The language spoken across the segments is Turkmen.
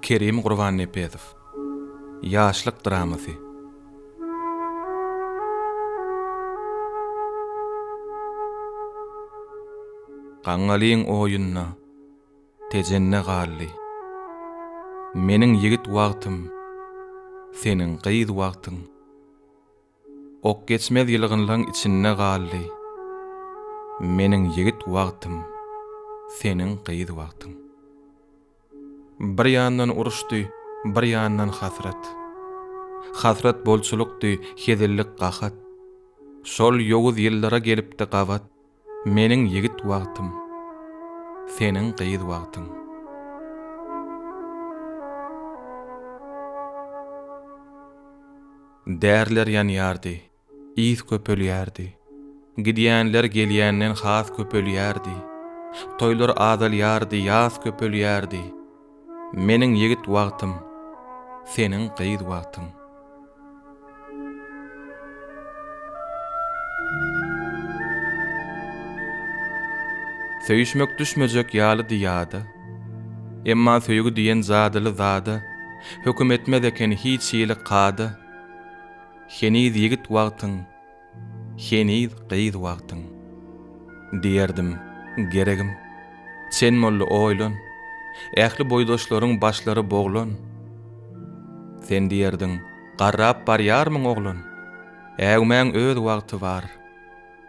Kerim Gurbannepesow. Ýaşlyk dramasy. Gaňňalyň oýunda, Tejende galdy. Meniň ýigit wagtym, Seniň gyz wagtyň. Ok geçmez ýylgynlaň içinde galdy. Meniň ýigit wagtym, seniň gyz wagtyň. Bir ýandan uruşdy, bir ýandan hasrat. Hasrat bolçulykdy, hezillik gahat. Şol ýowuz ýyllara gelipdi gabat. Meniň ýigit wagtym, seniň gyz wagtyň. Däriler ýanýardy, ys köpelýärdi. Gidýänler gelýänden has köpelýärdi. Toýlar azalýardy, ýas köpelýärdi. Meniň ýigit wagtym, seniň gyz wagtyň. Söýüşmek düşmejek ýalydy ýada, Emma söýgi diýen jadyly zada Höküm etmez eken hiç hili kada. Heniz ýigit wagtyň. Heniz gyz wagtyň. Diýerdim, Geregim, sen boldy oýlan, Ähli boýdaşlaryň başlary boglan. Sen diýerdiň, Garrap barýarmyň oglan? Äwmäň öz wagty bar,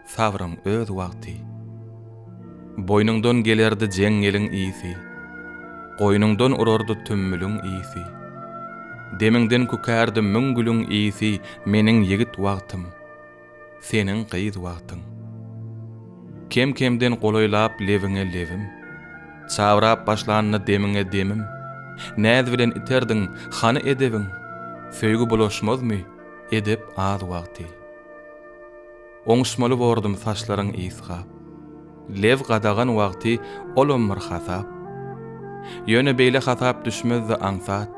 sabryň öz wagty. Boýnuňdan gelerdi jeňňeliň ysy, Goýnuňdan urardy tümmüliň ysy. Demiňden kükärdi müň gülüň ysy Meniň ýigit wagtym, seniň gyz wagtyň. Kem-kemden golaýlap lebiňe lebim, Çabrap başlanda demiňe demim, Näz bilen iterdiň, hany edebiň? Söýgi bulaşmazmy, edep az wagty. Oňuşmaly bordum saçlaryň ysgap. Lew gadagan wagty olam bir hasap. Ýöne beýle hasap düşmezdi aňsat.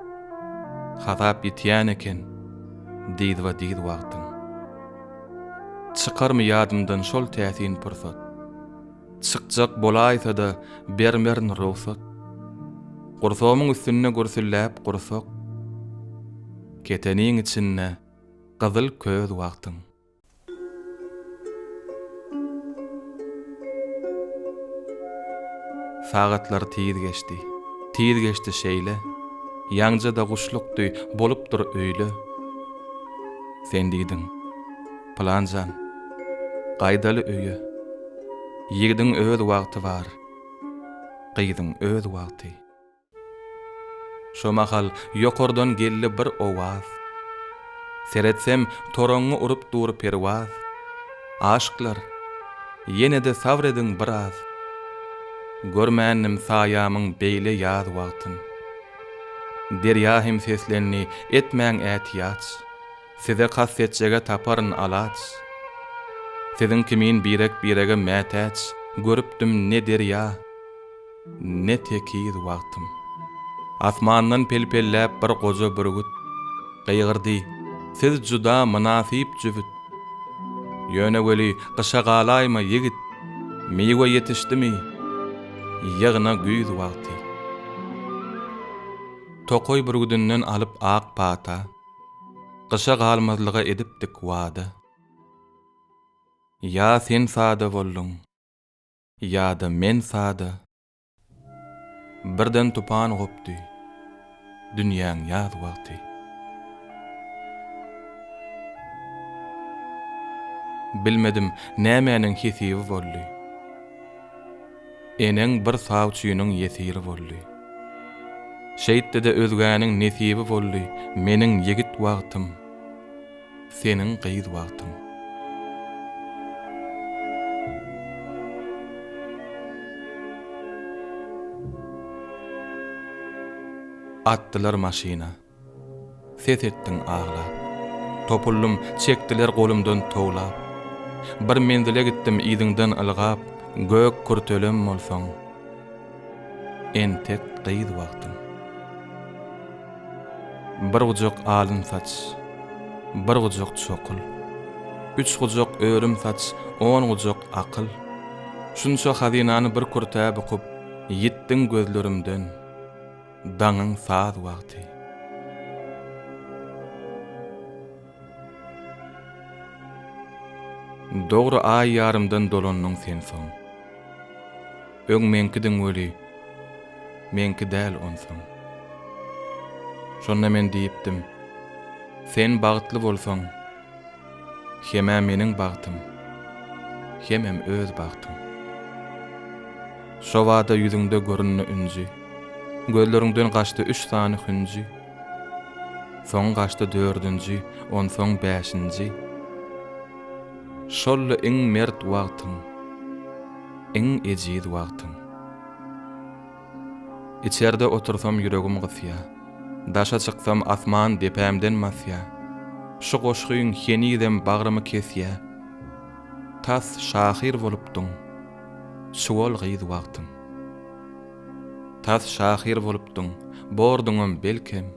Hasap ýitýän eken dyzba-dyz wagtyň. Çykarmy ýadymdan şol täsin pursat. Çykjak bolaýsa-da bermerin rugsat. Gursagymyň üstünde gürsülläp gursak. Keteniň içinde gyzyl köz wagtyň. Sagatlar tiz geçdi, tiz geçdi şeýle, Ýaňja-da guşlukdy, bolupdyr öýle. Sen diýdiň, Pylan jan, gaýdaly öýe, Ýigidiň öz wagty bar, gyzyň öz wagty. Şo mahal ýokardan geldi bir owaz. Seretsem, toraňňy urup dur perwaz. Aşyklar, ýene-de sabr ediň biraz. Görmändim saýamyň beýle ýaz wagtyn. Derýa hem seslendi, Etmäň ätiýaç. Size kast etjege taparyn alaç. Siziň kimin birek-birege mätäç görüpdim ne derýa. Ne tekiz wagtym. Asmandan pelpelläp bir goja bürgüt, Gygyrdy, Siz juda mynasyp jübüt. Ýöne weli, gyşa galaýma, ýigit, Miwe ýetişdimi, ýygna güýz wagty. Tokaý bürgüdinden alyp ak pata, Gyşa galmazlyga edipdik wada. Ýa sen sada bolduň. Ýa-da men sada. Birden tupan gopdy. Dünýäň ýaz wagty. Bilmedim, nämäniň hesibi boldy. Eneň bir sawçynyň ýesiri boldy. Şeýtdi-de özgäniň nesibi boldy meniň ýigit wagtym. seniň gyz wagtyň. Atdylar maşyna. Ses etdiň aglap. Topuldym, çekdiler golumdan towlap. Bir menzile gitdim yzyňdan ylgap, Gök kürtelem bolsaň. Entek gyz wagtym. Bir gujak alyn saç, bir gujak çokyl, Üç gujak ölüm saç, on gujak akyl. Şunça hazynany bir kürtä bukup, Ýitdiň gözlerimden, daňyň saz wagty. Dogry aý ýarymdan dolandyň sen soň. Öň meňkidiň weli, meňki däl onsoň. Şonda men diýipdim, Sen bagtly bolsaň, hem-ä meniň bagtym, hemem öz bagtyň. Şobada ýüzüňde göründi ünji, Gözleriňden gaçdy üç sany hünji, Soň gaçdy dördünji, onsoň bäşinji, Şol-la iň mert wagtyň. Iň ejiz wagtym. Içerde otursam ýüregim gysýa, Daşa çyksam asman depämden masýa, Şu goşgyň henizem bagrymy kesýä, Tas şahyr bolupdyň, çuwal gyz wagtym. Tas şahyr bolupdyň, borduňam belkem,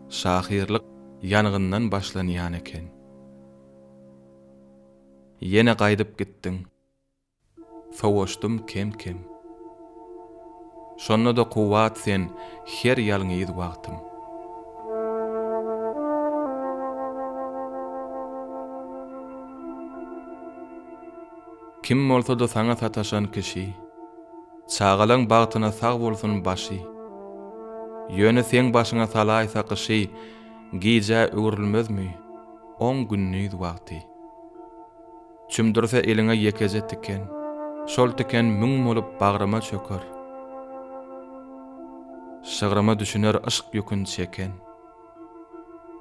Şahyrlyk ýangyndan başlanýan eken. Ýene gaýdyp gitdiň. Sowaşdym kem-kem. Şonda-da kuwwat sen her ýalňyz wagtym. Kim bolsa-da saňa sataşan kişi, Çagalaň bagtyna sag bolsun başy. Ýöne seň başyňa salaýsa gyşy, Gijä öwrülmezmi oň gündiz wagty. Çümdürse eliňe ýekeje tiken, Şol tiken müň bolup bagryma çöker. Şygryma düşüner yşk ýükün çeken,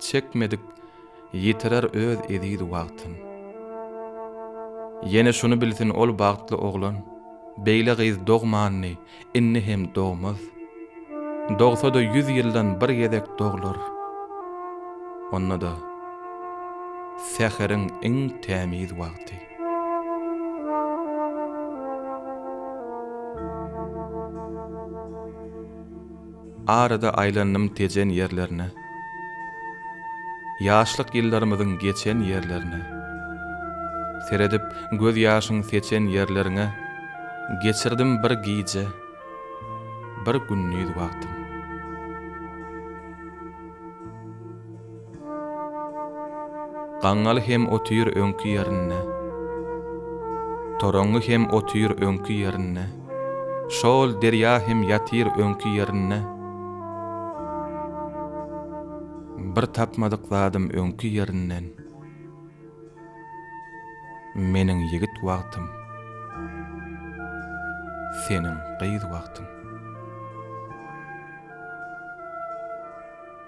Çekmedik ýitirer öz eziz wagtyn. Ýene şuny bilsin ol bagtly oglan, Beýle gyz dogmandy, Indi hem dogmaz. Dogsa-da ýüz ýyldan bir gezek doglar. Onda-da säheriň iň tämiz wagty. Arada aýlandym Tejen ýerlerine, Ýaşlyk ýyllarymyzyň geçen ýerlerine. Seredip göz ýaşyň seçen ýerleriňe Geçirdim bir gije, bir gündiz wagtym. Gaňňaly hem otyr öňki ýerinde. Toraňňy hem otyr öňki ýerinde. Şo-ol derýa hem ýatyr öňki ýerinde. Bir tapmadyk zadym öňki ýerinden. Meniň ýigit wagtym. Seniň gyz wagtyň.